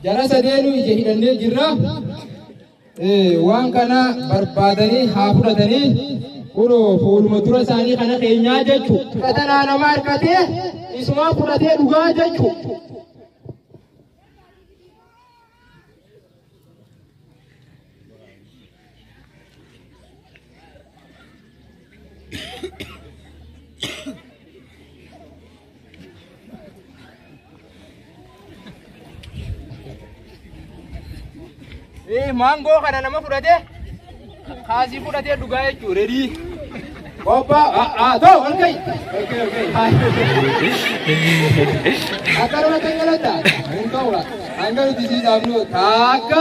Jara sadeenuu ija hidhannee jirra. Waan kana barbaadanii haa fudhatanii kunoo fuuluma dura isaanii kana keenyaa jechu. Fudhatanaa nama harkatee isumaa fudhatee dhugaa jechu. Eh, maangoo kana nama fudhate kaasii fudhatee dhugaa jechuudha redii. Obba haa ta'u halkai. Akka nama kan galata. Hin ta'u hanga nuti sii dhaabnu taakka.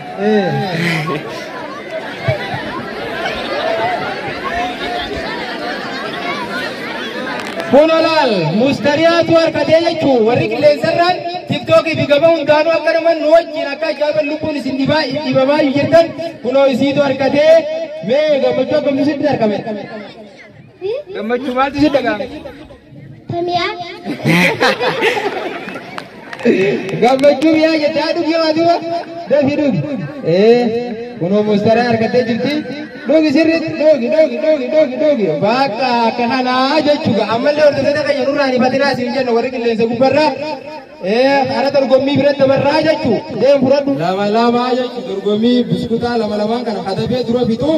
Kunolaal mustariyaatu harkatee jechuun warri qilleensarraan tiktookii fi gaba hundaanuu akka naman nu wajjin akka ajaa'iban lubbuun isin dhibaa dhibamaa jirtan kunoo isiitu harkatee mee gammachuu akkamitti argame. Gammachuu maaltu si dhaga'ame? Tamiyaan. Gammachuu mi'aa jette haa dhugi waa duuba dafii dhugi. Ee kunoo mustaraa argattee jirti. Dhugi sirriitti dhugi dhugi dhugi dhugi dhugi bakka akka kanaa jechuudha ammallee hordoftoota keenya nurraa ni batinaa siin jenna warri qilleensa gubbarraa. Ee hara dorgommii biratti dabarraa jechuu deem fudhadhu. Lama lamaa jechuudha dorgommii biskutaa lama lamaan kana katabee dura bituu.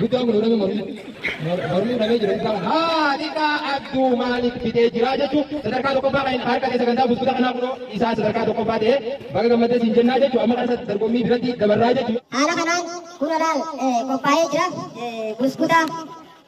Guddaa kun nama mormii mormii dhabee jira isaa haadhiidhaa abduu maaliif bitee jira jechuun sadarkaa tokkoffaa kan harka keessa gandaa buskuta kanaa kunoo isaa sadarkaa tokkoffaa ta'ee baga gammadee siin jennaa jechuun amma kana dorgommii biratti dabarraa jechuun. Haala kanaan kun olaal qophaa'ee jira. Buskuta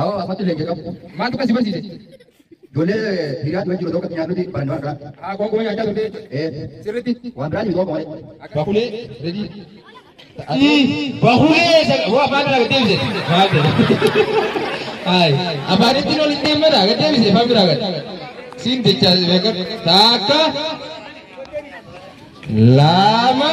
Awo afatti leenca qabu. Maaltu kan si barsiise? Ijoollee hiriyaa dura jiru tokko nyaannuti baranne waan biraa. Haa qoonqoo nyaachaa turte. Ee Sirriitti. waan biraa jiru tokko malee. Bakulee redii. Bakulee waa afaan biraa gad deebise. Maal jedhe? Ayi afaanitti ol hin deemmadha gad deebise afaan biraa gad. Siin jecha beekan takka lama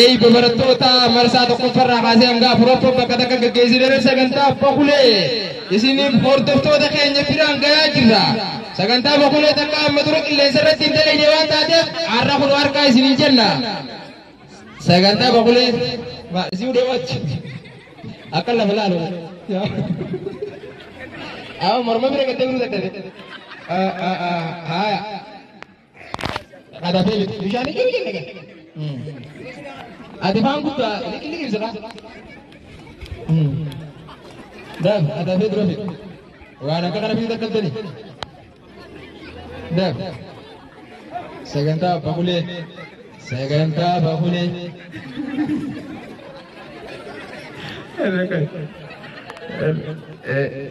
Eebba barattoota marsaa tokkoffarraa kaasee hanga afuraffaa bakka takka gaggeessinee sagantaa abbaa kulee isiniif hordoftoota keenya biraan gayaa jirra. Sagantaa abbaa kulee takka amma dura qilleensa irratti hin dalagne waan taateef har'a kun harkaa isiniin jenna. Sagantaa abbaa kulee ma isin hudhee wachi akka lafa laalu. Amma morma bira gattee biruu dadhabe. Haaya. Qabatee miti. Bishaan hin jiru jenna. Ati faan guddaa liqilli ibsa qaba. Daf adabee dura fide. Waan akka kana fide akka tani. Daf. Sagantaa abbaa bulee. Sagantaa abbaa bulee. Eh, eh, eh.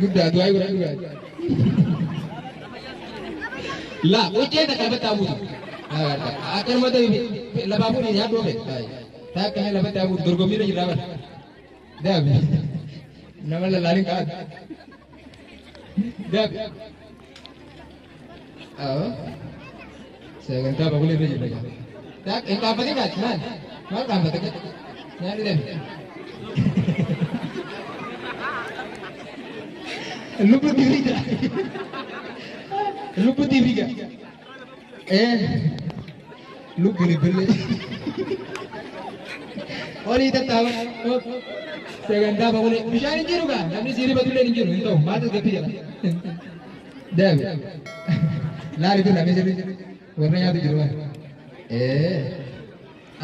Guddaa du'aa godhaa du'aa. Laa hojjee takka lafa taabuutu. Akka nama ta'e lafaa fuudhee nyaadhu ofe. Takka mee lafa taabuutu dorgommii irra jirraa bara. Daabi. Nama lallaanin qabaatu. Daabi. Awwa. Sagantaa bagulee irra jirra gaa. Daa hin dhaabbatin gaati maal? Maal dhaabbata gaa? Nyaanni deemi. Lubbu tiifi jira. Lubbu tiifi gaa. Eh. Lubbu libbillee. Olii tattaaba. Sagantaa bagulee. Bishaan hin jiru gaa. Namni siirifatullee hin jiru hin ta'u. Maatis gaffii jira. Dev. Laali birra mee sirri. Warra nyaatu jiru waan. Ee.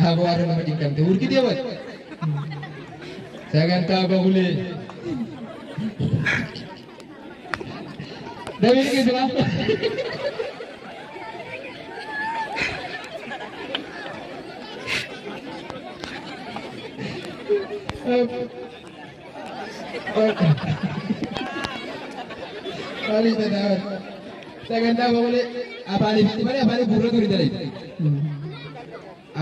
Aboo har'a nama cinqamte. Urgitee wal. Sagantaa bahulee. Dabiin qismaa. Ab. Maalii jedhaa sagantaa boqolee afaaniif itti malee afaaniif gurra ture dalee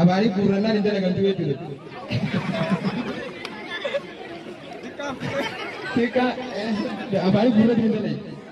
afaaniif gurrannaan hin dalagamtu jechuudha. Xiqqaa afaaniif gurra ture dalee.